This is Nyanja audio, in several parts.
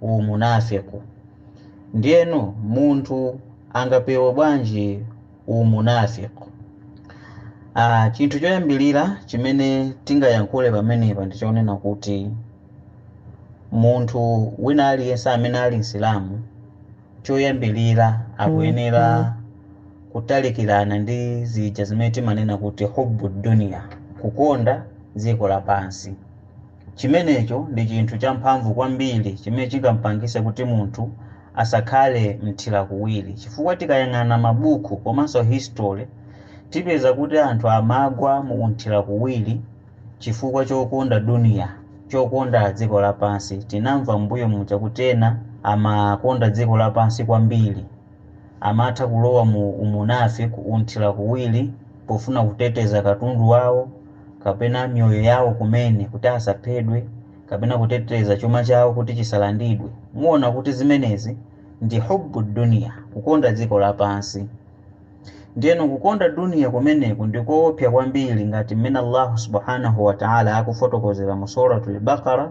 umunafiq. Ndiyeno munthu angapewe bwanji umunafiq? Aaa chinthu choyambilira chimene tingayankhule pamenepa ndi chonena kuti munthu wina aliyense amene ali Msilamu choyambilira akuyenera kutalikirana ndi zija zimene timanena kuti hubb-ud-dunya, kukonda dziko lapansi. Chimenecho ndi chinthu champhamvu kwambiri chimene chingampangise kuti munthu asakhale mthirakuwiri chifukwa tikayang'ana mabuku komanso history tipeza kuti anthu amagwa mu umthirakuwiri chifukwa chokonda duniya, chokonda dziko lapansi, tinamva m'mbuyo muja kuti ena amakonda dziko lapansi kwambiri. Amatha kulowa mu umunafiq, umthirakuwiri pofuna kuteteza katundu wawo kapena miyoyo yawo kumene kuti asaphedwe kapena kuteteza chuma chawo kuti chisalandidwe. Muona kuti zimenezi ndi hubb-ud-dunya, kukonda dziko lapansi. Ndiyeno kukonda dunya kumeneku ndi koopsya kwambiri ngati mmene Allahu subhanahu wa ta'ala akufotokozera mu Surah Al-Baqara,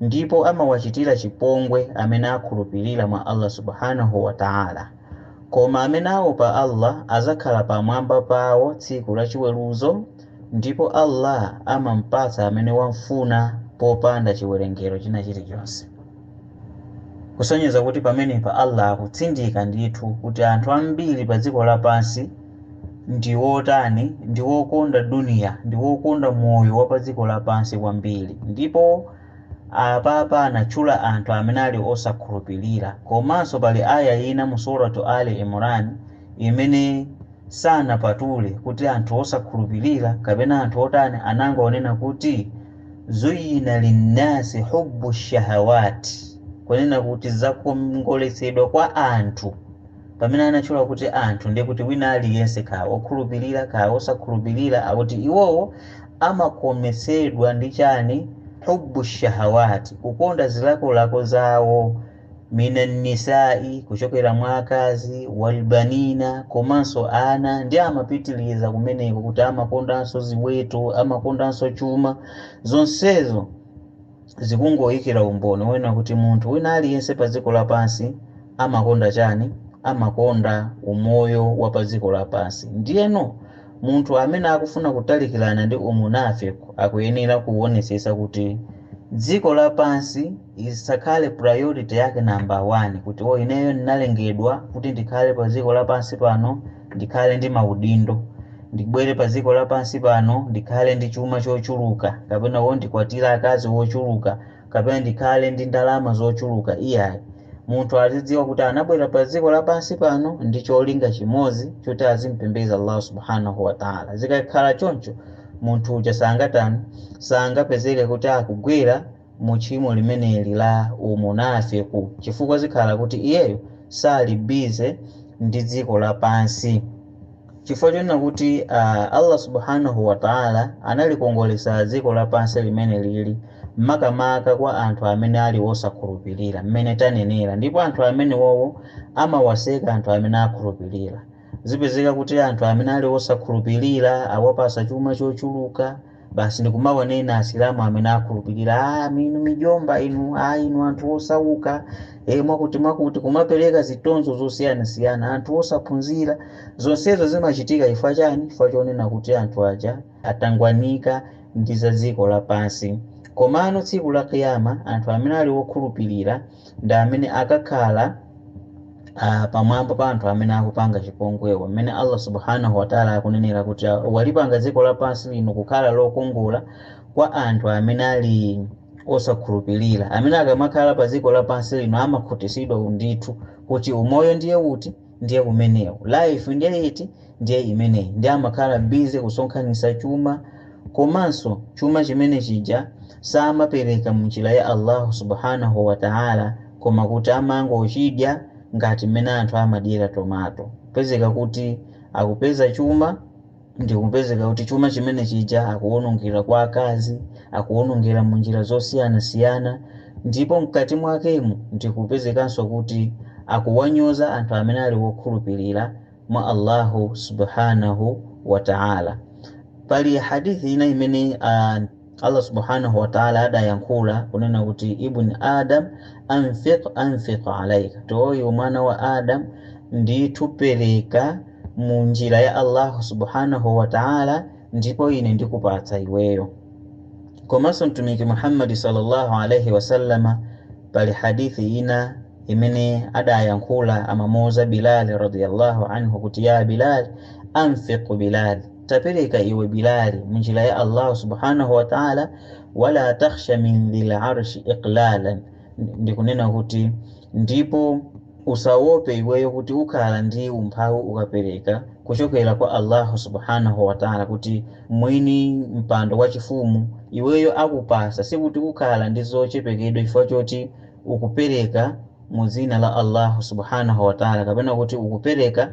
Ndipo amawachitira chipongwe amene akhulupirira mwa Allah Subhaanah wa Ta'ala. Koma amene aopa Allah adzakhala pamwamba pawo tsiku la chiweruzo ndipo Allah amampatsa amene wam'funa popanda chiwerengero china chilichonse. Kusonyeza kuti pamenepa Allah akutsindika ndithu kuti anthu ambiri pa dziko lapansi. ndi wotani, ndi wokonda duniya, ndi wokonda moyo wa padziko lapansi kwambiri. Ndipo apapa anatchula anthu amene ali osakhulupirira. Komanso pali ayah ina mu Suratu Aali Imran imene sanapatule kuti anthu osakhulupirira kapena anthu otani, anangonena kuti, Zuyyina linnasi hubbu shahawat, kunena kuti zakongoletsedwa kwa anthu Pamene anatchula kuti anthu, ndiye kuti wina aliyense, kaya wokhulupirira, kaya wosakhulupirira, akuti iwowo amakometsedwa ndi chani? Hubbu shahawaati, kukonda zilakolako zawo, minannisaai, kuchokera mwa akazi, walbanina, komanso ana, ndiye amapitiriza kumeneko kuti amakondanso ziweto, amakondanso chuma, zonsezo. zikungoyikira umboni wonena kuti munthu wina aliyense pa dziko lapansi amakonda chani? Amakonda umoyo wa pa dziko lapansi. Ndiyeno, munthu amene akufuna kutalikirana ndi umunafiq akuyenera kuwonetsetsa kuti dziko lapansi isakhale priority yake number 1, kuti oh ineyo ndinalengedwa kuti ndikhale pa dziko lapansi pano, ndikhale ndi maudindo, ndibwere pa dziko lapansi pano ndikhale ndi chuma chochuluka, kapena wo ndikwatire akazi ochuluka, kapena ndikhale ndi ndalama zochuluka iyayi. Munthu azidziwa kuti anabwera pa dziko lapansi pano ndi cholinga chimodzi choti azimpembedza Allah Subhanahu wa Ta'ala. Zikakhala choncho munthu uja sangatani? Sangapezeke kuti akugwera mu tchimo limeneli la umunafiku chifukwa zikhala kuti iyeyo sali busy ndi dziko lapansi chifukwa chonena kuti uh, Allah subhanahu wa ta'ala analikongolesa dziko lapansi limeneli makamaka kwa anthu amene ali wosakhulupirira mmene tanenera ndipo anthu amene wowo amawaseka anthu amene akhulupirira zipezeka kuti anthu amene ali wosakhulupirira awapasa chuma chochuluka basi ndikumawanena asilamu amene akhulupirira ah, inu amjomba inu ah, inu anthu osauka e, mwakuti mwakuti kumapereka zitonzo zosiyanasiyana anthu osaphunzira zonsezo zimachitika chifukwa chani chifukwa chonena kuti anthu aja atangwanika ndi za dziko lapansi komano tsiku la kiyama anthu amene ali okhulupirira ndi amene akakhale pamwamba pa anthu amene akupanga chipongwewa, mmene Allah Subhaanah wa Ta'la akunenera kuti, Walipanga dziko lapansi lino kukhala lokongola kwa anthu amene ali osakhulupilira, amene akamakhala pa dziko lapansi lino amakhutitsidwa, ndithu kuti umoyo ndiye uti? ndiye umenewu life ndiye iti ndiye imeneyi ndiye amakhala busy kusonkhanisa chuma komanso chuma chimene chija samapereka munjira ya Allahu subhanahu wa ta'ala koma kuti amangochidya ngati mmene anthu amadyera tomato kupezeka kuti akupeza chuma ndikupezeka kuti chuma chimene chija akuwonongera kwa akazi, akuwonongera mu njira zosiyanasiyana, ndipo mkati mwakemu ndikupezekanso kuti akuwanyoza anthu amene ali wokhulupirira mwa Allahu Subhaanahu Wata'ala. Pali hadith ina imene a. Allah subhanahu wa ta'ala adayankhula kunena kuti Ibn Adam anfiq unfiq alaika, kuti iwe mwana wa Adam ndithu pereka mu njira ya Allah subhanahu wa ta'ala ndipo ine ndikupatsa iweyo. Komanso Mtumiki Muhammad sallallahu alaihi wasallama pali hadithi ina imene adayankhula amamuuza Bilal radiyallahu anhu kuti ya Bilal anfiq Bilal, Tapereka iwe Bilali mu njira ya Allahu Subhanahu wa Ta'ala, wala takhsha min dhil arshi iqlalan, ndikunena kuti ndipo usawope iweyo kuti ukhala ndi umphawi ukapereka kuchokera kwa Allahu Subhanahu wa Ta'ala kuti mwini mpando wa chifumu iweyo akupatsa, sikuti ukhala ndi zochepekedwa chifukwa choti ukupereka mu dzina la Allahu Subhanahu wa Ta'ala kapena kuti ukupereka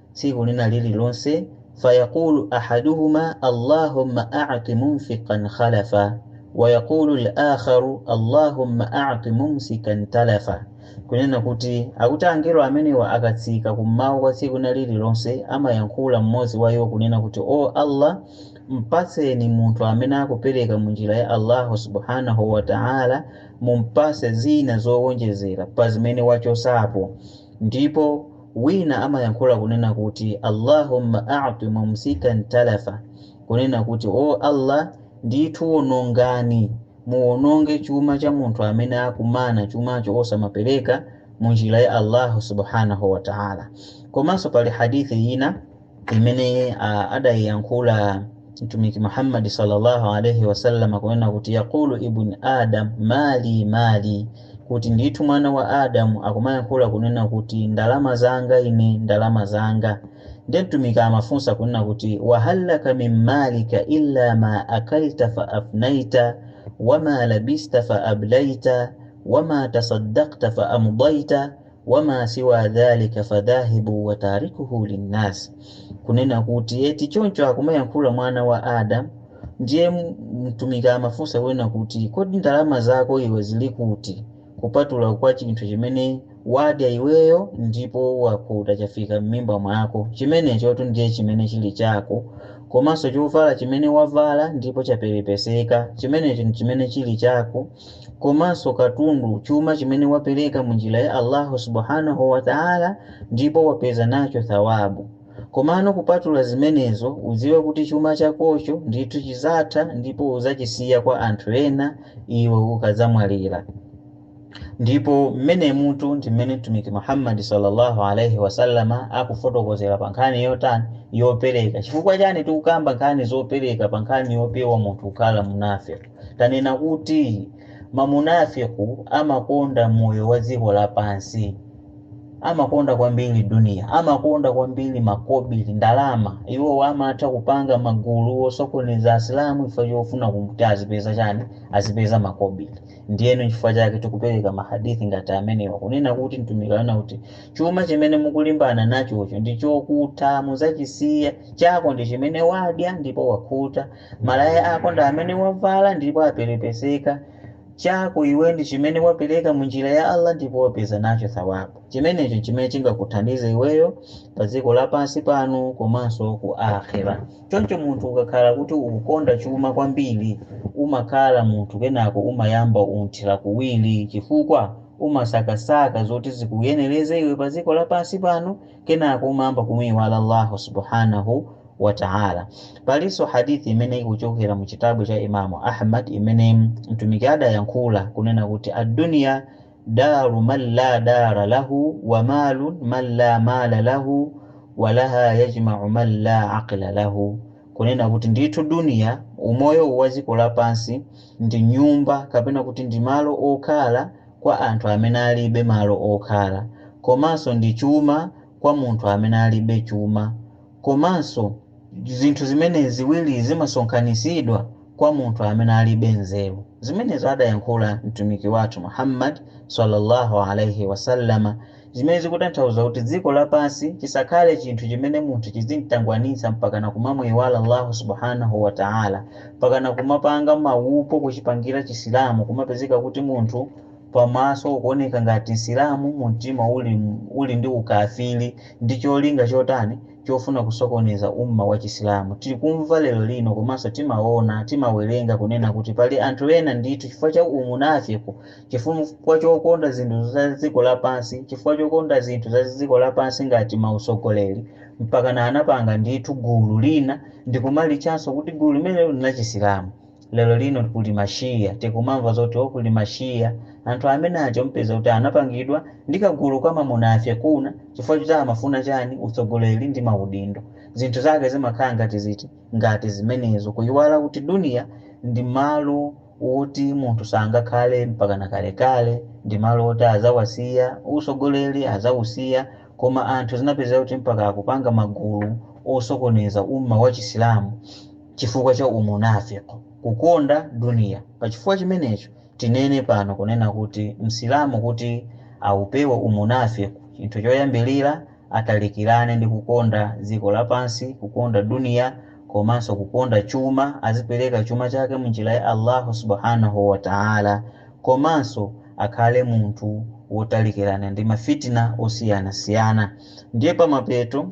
tsiku lina lililonse, fayaqulu ahaduhuma Allahumma a'ti munfiqan khalafa wa yaqulu al-akharu Allahumma a'ti mumsikan talafa, kunena kuti, akuti angelo amenewa akatsika kummawa kwa tsiku lina lililonse amayankhula mmodzi wa iwo kunena kuti, O Allah, mpatseni munthu amene akupereka mu njira ya Allahu subhanahu wa ta'ala mumpatse zina zowonjezera pa zimene wachosapo, ndipo Wina amayankhula kunena kuti, Allahumma a'ti mumsikan talafa, kunena kuti, O Allah ndithu wonongani, muwononge chuma cha munthu amene akumana chumacho osamapereka mu njira ya Allahu subhanahu wa ta'âlâ. Komanso pali hadith ina. imene uh, adayiyankhula mtumiki muhammadi sallallahu alaihi wasallam kunena kuti yaqulu ibn adam mali mali kuti ndithu mwana wa adamu amayankhula kunena kuti ndalama zanga ine ndalama zanga ndiye mtumiki amafunsa kunena kuti wa hal laka min malika illa ma akalta fa afnaita wama labista fa ablaita wama tasaddaqta fa amdaita wama siwa dhalika fadhahibun wa tarikuhu linnas, kunena kuti choncho akumayankhula mwana wa Adam ndiye mtumiki amafunsa kunena kuti kodi ndalama zako iwe zili kuti kupatula kwa chinthu chimene wadya iweyo ndipo wakhuta chafika m'mimba mwako chimenechotu ndiye chimene chili chako komanso chovala chimene wavala ndipo chaperepeseka chimenecho chimene chili chako komanso katundu chuma chimene wapereka mu njira ya Allahu subhanahu wa ta'ala ndipo wapeza nacho thawabu komano kupatula zimenezo udziwe kuti chuma chakocho ndithu chizatha ndipo uzachisiya kwa anthu ena iwe ukadzamwalira ndipo mmene mutu ndi mmene mtumiki Muhammad sallallahu alaihi wasallama akufotokozera pa nkhani yotani yopereka chifukwa chani tikukamba nkhani zopereka pa nkhani yopewa munthu kukhala munafiq Tanena kuti ma munafiq amakonda moyo wa dziko lapansi, amakonda kwambiri dunia, amakonda kwambiri makobili, ndalama. Iwo amatha kupanga magulu osokoneza Asilamu chifukwa chofuna kuti azipeza chani? Azipeza makobili. Ndiyeno nchifukwa chake tikupereka ma hadith ngati amenewa kunena kuti Mtumiki ananena kuti chuma chimene mukulimbana nachocho ndi chokutha, mudzachisiya, chako ndi chimene wadya ndipo wakhuta, Malaya ako ndi amene wavala ndipo aperepeseka, chako iwe ndi chimene wapereka mu njira ya Allah ndipo wapeza nacho thawabu. Chimenecho n'chimene chingakuthandize iweyo pa dziko lapansi pano komanso ku Aakhirah. Choncho munthu ukakhala kuti ukukonda chuma kwambiri, umakhala munthu kenako umayamba unthira kuwiri chifukwa umasakasaka zoti zikuyenereze iwe pa dziko lapansi pano kenako umayamba kumuiwala Allah Subhaanah wa ta'ala. Palinso hadith imene ikuchokera mu chitabu cha Imam Ahmad imene Mtumiki adayankhula kunena kuti ad-dunya daru man la dara lahu wa malun man la mala lahu wa laha yajma'u man la aqla lahu, kunena kuti ndithu duniya, umoyo uwu wa dziko lapansi, ndi nyumba kapena kuti ndi malo okhala kwa anthu amene alibe malo okhala, komanso ndi chuma kwa munthu amene alibe chuma, Komanso, zinthu zimene ziwirizi zimasonkhanitsidwa kwa munthu amene alibe nzeru. Zimenezi adayankhula Mtumiki wathu Muhammad swalla Allahu alaih wasallam, zimene zikutanthauza kuti dziko lapansi chisakhale chinthu chimene munthu chidzimtangwanitsa mpakana kumamuiwala Allahu subhanahu wa ta'âlâ, mpakana kumapanga mawupo kuchipangira Chisilamu kumapezeka kuti munthu. pamaso ukuoneka ngati Msilamu mumtima uli, uli ndi ukafili ndi cholinga chotani chofuna kusokoneza umma wa chisilamu tikumva lero lino komanso timaona timawerenga kunena kuti pali anthu ena ndithu chifukwa cha umunafiq chifukwa chokonda zinthu za dziko lapansi chifukwa chokonda zinthu za dziko lapansi ngati mautsogoleri mpakana anapanga ndithu gulu lina ndikumalichanso kuti gulu limenelo ndi lachisilamu Lero lino kuli ma Shia, tikumamva zoti oh kuli ma Shia, anthu amene aja umupeza kuti anapangidwa ndi kagulu ka ma munafiquna chifukwa choti amafuna chani, utsogoleri ndi ma udindo. Zinthu zake zimakhala ngati ziti, ngati zimenezo, kuyiwala kuti dunia ndi malo woti munthu sangakhale mpakana kalekale, ndi malo woti adzawasiya, utsogoleri adzausiya, koma anthu zinapezeka kuti mpaka akupanga magulu osokoneza ummah wa chisilamu. chifukwa cha umunafiq, kukonda duniya. Pa chifukwa chimenecho tinene pano kunena kuti Msilamu kuti aupewe umunafiq, chinthu choyambirira atalikirane ndi kukonda dziko lapansi, kukonda duniya, komanso kukonda chuma, azipereka chuma chake mu njira ya Allahu subhanahu wa ta'âlâ, komanso akhale munthu wotalikirana ndi ma fitna osiyanasiyana. Ndiye pamapeto.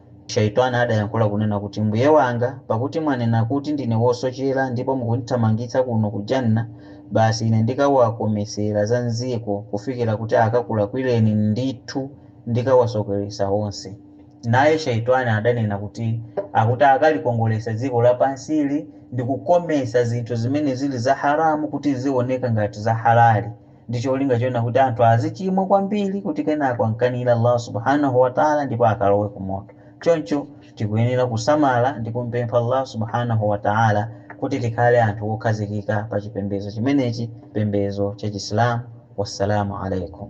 Shaytwaan adayankhula kunena kuti, Mbuye wanga, pakuti mwanena kuti ndine wosochera ndipo mukundithamangitsa kuno ku Jannah, basi ine ndikawakometsera za m'dziko kufikira kuti akakulakwireni, ndithu ndikawasokeretsa onse. Naye Shaytwaan adanena kuti, Akuti akalikongoletsa dziko lapansili ndi kukometsa zinthu zimene zili za haraam kuti zioneka ngati za halaali. ndi cholinga chonena kuti anthu azichimwa kwambiri kuti kenako amkanire Allah Subhaanahu wa Ta'ala ndipo akalowe ku moto. Choncho tikuyenera kusamala ndi kumupempha Allah Subhaanahu wa Ta'ala kuti tikhale anthu wokhazikika pa chipembedzo chimenechi, chipembedzo cha Chisilamu. Wassalamu Alaykum.